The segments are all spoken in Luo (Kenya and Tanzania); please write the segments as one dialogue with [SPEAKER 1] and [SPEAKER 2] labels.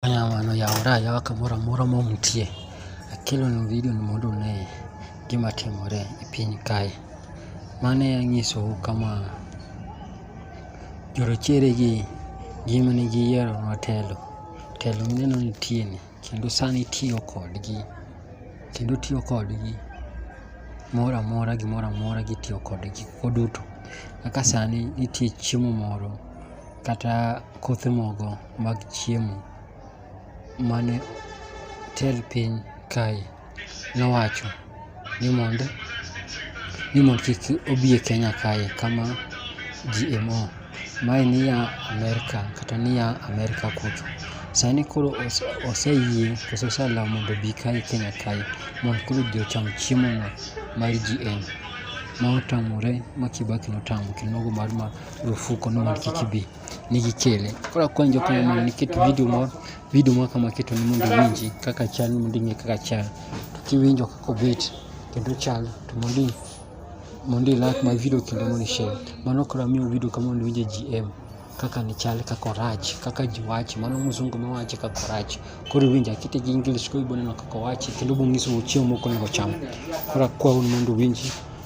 [SPEAKER 1] Mano yawore ayawa kamoro amora ma untie. Akelonu video ni mondo une gima timore e piny kae. Mane anyisou kama jorochere gi gima ne giyiero nwa telo. Telo mineno nitie ni kendo sani itiyo kodgi. Kendo itiyo kodgi moro amora gimoro amora gitiyo kodgi gigo duto. Kaka sani nitie chiemo moro kata kothe moko mag chiemo mane tel piny kae nowacho ni mondo ni mondo kik obi e Kenya kae kama GMO mae niya Amerka kata niya Amerka kucho. Sani koro oseyie kose oselal mondo obi kae Kenya kae mondo koro ji ocham chiemono mar GM ma otamore ma Kibaki notamo kendo nogo mar marufuku ni mondo kik ibi. nigi kele koro akwayo jok ma mondo niket video moro video moro kama keto ni mondo iwinji kaka chal ni mondo ing'e kaka chal to kiwinjo kaka obet kendo chal to mondo i- mondo i like my video kendo mondo i share mano koro amiyo video kama mondo iwinje GM kaka ni chal kaka orach kaka ji wache mano mzungu ma wache kaka orach koro iwinjo akite gi English koro iboneno kaka owache kendo bong'iso chiemo moko onego ocham koro akwayo ni mondo iwinji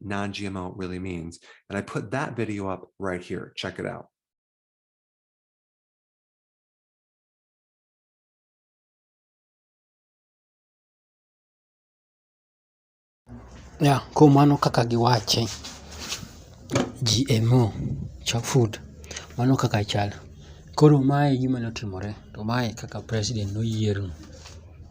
[SPEAKER 2] non GMO really means. And I put that video up right here. Check it out.
[SPEAKER 1] Yeah, kuom mano kaka giwache GMO chop food mano kaka chal koro mae e gima notimore to mae e kaka president noyier no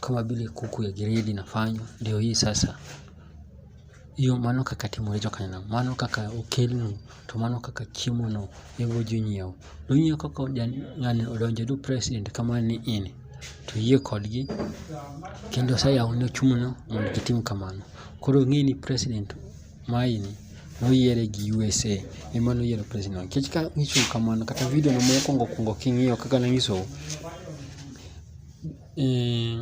[SPEAKER 1] kama vile kuku ya gredi inafanywa, ndio hii sasa iyo mano kaka timorejo kanena mano kaka okelnu to mano kaka chiemono ewo jonyiewo nonyiewo kaka ng'ani odonjo du president kama ni in to yie kodgi kendo oseyawone ochumuno mondo gitim kamano koro ng'e ni president maini noyiere gi USA ema noyiero president nikech ka nyiso kamano kata video no mokwongo kwongo king'iyo kaka nanyisou Eh,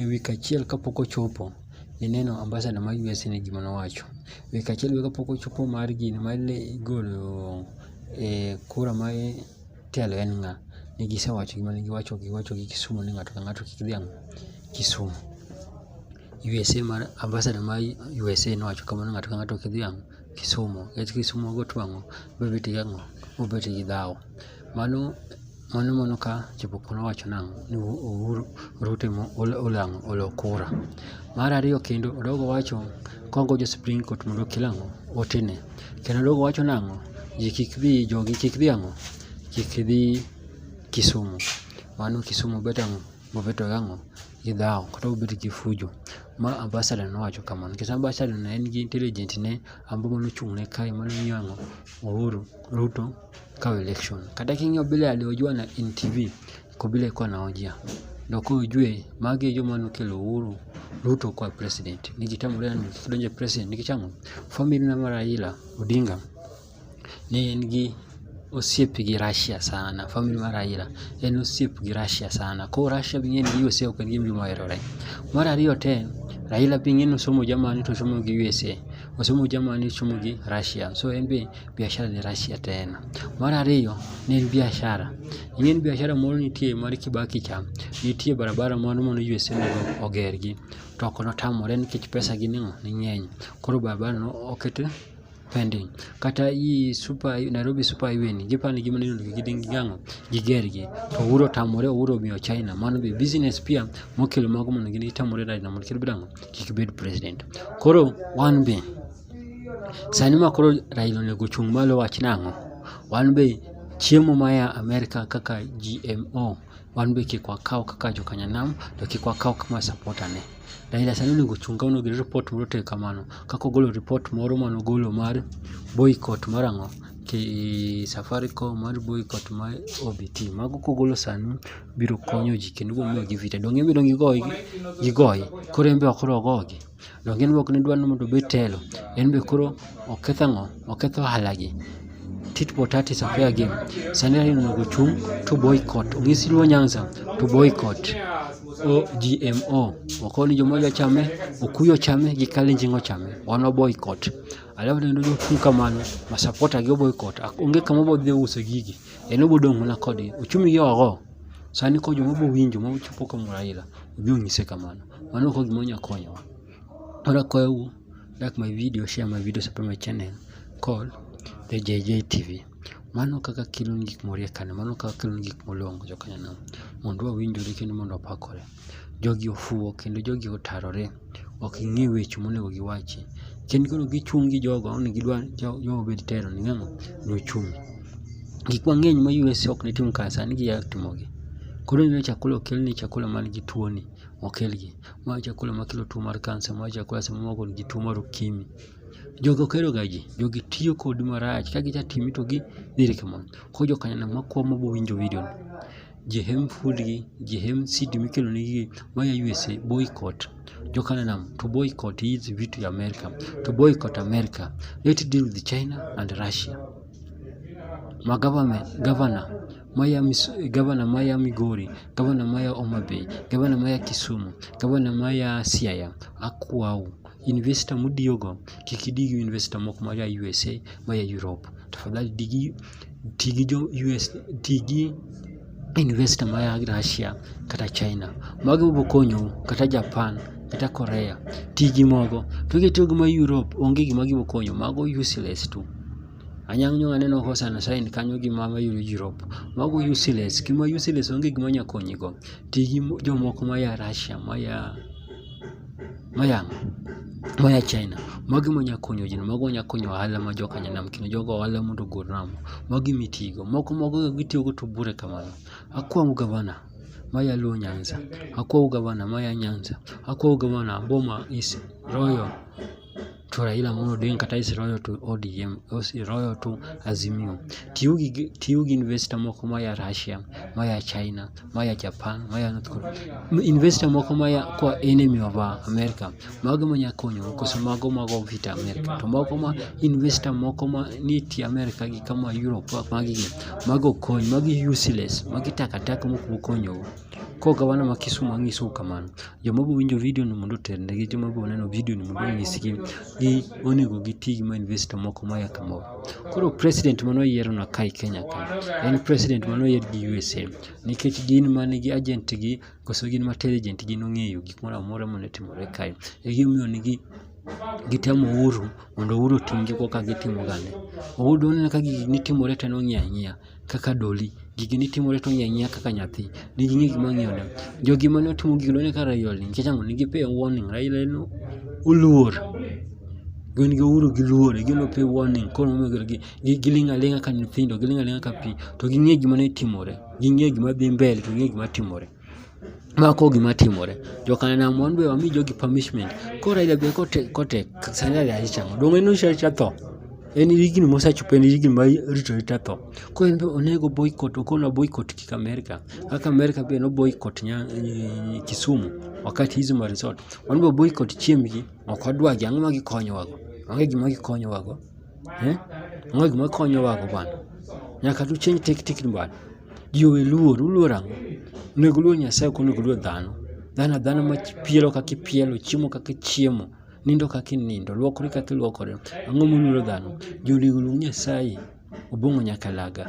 [SPEAKER 1] wik achiel kapok ochopo ineno ambasada ma US ni gima nowacho. Wik achiel be kapok ochopo mar gini mar golo eh, kura ma telo en ng'a, ne gisewacho gima ne giwacho giwacho gi Kisumu ni ng'ato ka ng'ato kik dhiang' Kisumu. USA mar ambasada ma USA nowacho kamano ng'ato ka ng'ato kik dhiang' Kisumu nikech Kisumu ogo twang'o, obet gi ang'o, obet gi dhawo. Mano mano mono ka chopo kono wacho nang'o ni Uhuru Ruto emo olang'o olo kura. Mar ariyo kendo odogo wacho kongo jo Supreme Court mondo okel ang'o otene. Kendo odogo wacho nang'o ji kik dhi jogi kik dhi ang'o kik dhi Kisumu. Mano Kisumu bet ang'o bobedo ang'o gi dhawo kata bobedo gi fujo. Ma ambassador nowacho kamano nikech ambassador ne en gi intelligent ne ambumo nochung' ne kae mano miyo ang'o Uhuru Ruto kawa election. Kata king'iyo bila aliojua na in TV ko bila iko naojia ndio kwa ujue mage joma nokelo Uhuru Ruto kwa president nikitambulia nikidonje president nikichamo family na mara ila Odinga ni en gi osiep gi Russia sana family mar Raila en osiep gi Russia sana ko Russia bing'e ni USA ok en gima oherore mar ariyo te Raila bing'e ni osomo Germany to osomo gi USA osomo Germany osomo gi Russia so en be biashara ni Russia tena. Mar ariyo ne en biashara. Ne en biashara moro nitie mar Kibaki cha, nitie barabara moro mane USA onego ogergi to ok notamore nikech pesa gi nang'o ne ng'eny. Koro barabara no oket pending. Kata i super Nairobi super highway ni gipani gima ni onego giding gang'o gigergi to Uhuru otamore Uhuru omiyo China mano be business pia mokelo mago mondo gini gitamore Raila mondo kik bed ang'o kik bed president. Koro wan be Sani ma koro Raila onego ochung' malo wach nang'o? Wan be chiemo maya Amerka kaka GMO wan be kik wakaw kaka jokanyanam to kik wakaw kama supporter ne. Raila sani onego ochung' ka onego report moro tek kamano kaka ogolo report moro mane ogolo mar boycott mar ang'o ki Safaricom mar boycott mar OBT. Mago kogolo sani biro konyo ji kendo biro miyo ji vita. Donge en be dong' gigoye? Gigoye. Koro en be ok dong' ogogi? Donge in be ok nidwar ni mondo obed telo? En be koro oketho ang'o? Oketho ohalagi. Tit for tat is a fair game. Sani Raila onego ochung' to boycott. Onyis Luo Nyanza to boycott. OGMO. Wakoni joma odwa chame, Okuyu ochame gi Kalenjin ochame. Wan boycott. Alafu kendo jochung' kamano ma supporter gi boycott. Onge kama obo dhi uso gigi. En obo dong' mana kodgi. Ochumi gi ogo. Sani ko joma obo winjo ma ochopo kuom Raila, obi onyise kamano. mano ok gima onya konyowa koro akwayou like my video share my video support my channel call the JJ TV mano kaka kelo gik moriek kane mano kaka kelo gik molongo jokanyono mondo wawinjore kendo mondo wapakore jogi ofuwo kendo jogi otarore ok ing'e weche monego giwachi kendo koro gichung' gi jogo ni gidwa jogo obed telo ni ng'ano nochung' gik mang'eny ma US ok ne tim kar sani giya timogi koro ineno chakula okelni chakula man gi tuoni okelgi. Ma chakula makelo tuo mar kansa, ma chakula sama moko nigi tuo mar okimi. Jogi ok heroga ji, jogi tiyo kodi marach, ka gicha timi to gidhiri kamano. Koro jokanyono makwa ma bowinjo vidio ni, ji hem food gi, ji hem CD mikelo negi gi, maya USA, boycott. Jokanyono to boycott hizi vitu ya Amerika, to boycott Amerika. Let's deal with China and Russia. Ma government, governor maya gavana maya Migori, gavana maya Omabei, gavana maya Kisumu, gavana maya Siaya, akwau investor mudiyogo kik idi gi investor moko maya USA, maya Europe. Tafadhali digi ti gi jo US, ti gi investor maya Russia kata China. Mago biro konyou kata Japan kata Korea. Ti gi mogo. To kitiyo gi ma Europe onge gima gibiro konyo, mago useless tu. Anyang' nyo aneno Hosanna sign kanyo gi mama yudo jirop. Mago useless. Kima useless onge gima nya konyigo. Ti gi jomoko ma ya Russia, ma ya ma ya ma ya China. Magi ma nya konyo ji, mago nya konyo ohala ma joka nyanam kendo jogo ohala mondo ogol ramo. Magi mitigo. Moko mago gitiyo go to bure kamano. Akwamo gavana ma ya Luo Nyanza. Akwamo gavana ma ya Nyanza. Akwamo gavana Boma is Royal. to Raila Amolo Odinga kata is royal to ODM is royal to Azimio. Tiyo gi tiyo gi investor moko ma ya Russia, ma ya China, ma ya Japan, ma ya North Korea. Investor moko ma ya kwa enemy of America. Mago ma nya konyo koso mago mago vita America. To mago ma investor moko ma ni ti America gi kama Europe magi mago konyo magi useless magi takataka moko konyo. Koro gavana ma Kisumo anyisou kamano, joma biro winjo vidio ni mondo oternegi, joma biro neno vidio ni mondo onyisgi gi onego giti gi ma investor moko maya kamoro. Koro president mane oyierona kae Kenya ka en president mane oyier gi USA nikech gin ma nigi agent gi koso gin ma intelligent gin ong'eyo gik moro amora mane timore kae. E gimomiyo nigi gitemo Uhuru mondo Uhuru otimgi koka gitimo gande. Uhuru doneno ka gigi timore to en ong'iyo ang'iya. kaka doli gigi ni timore to ng'iya kaka nyathi ni gi ng'e gima ng'iyo ne jogi mane otimo gigi ne kaka rayol ni nikech ang'o nigi pay warning Raila en oluor gin gi uhuru gi luor gi no pay warning koro momiyo gi giling' aling'a ka nyithindo giling' aling'a ka pi to gi ng'e gima ne timore gi ng'e gima dhi mbele to gi ng'e gima timore. mako gima timore jokanam wan be wami jogi punishment koro Raila be kotek kotek sani Raila dhi chango donge en osecha tho en higni mosechopo en higni ma rito rita tho koro en be onego boycott okona boycott kik Amerika kaka Amerika be no boycott nya eh, Kisumu wakati hizo ma resort wan be boycott chiembgi ok wadwagi ang'o ma gikonyowago onge gima gikonyowago eh onge gima gikonyowago bana nyaka tu change tactic bana Ji owe luor, uluor ang'o? Onego uluor Nyasaye ok onego uluor dhano. Dhano adhana ma pielo kaka ipielo, chiemo kaka ichiemo, nindo kaka inindo, luokori kaka iluokore. Ang'o muluoro dhano? Ji onego oluor Nyasaye, Obong'o nyaka laga.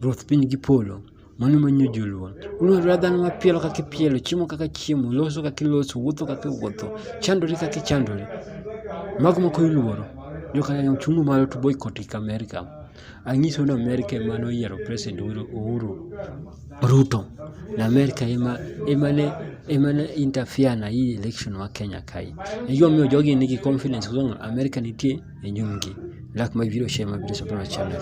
[SPEAKER 1] Ruoth piny gi polo, mano manyo ji oluor. Uluorora dhano ma pielo kaka ipielo, chiemo kaka ichiemo, loso kaka iloso, wuotho kaka iwuotho, chandori kaka ichandori. Mago moko iluoro. Joka nyanya uchungu malo to boycott America. Anyiso ni Amerika ema noyiero President Uhuru Ruto. Na Amerika ema ema ne ema ne interfere na hii election wa Kenya kae. Najua mimi jogi niki confidence kwa sababu Amerika nitie e nyumgi. Lak mabiro share mabiro support channel.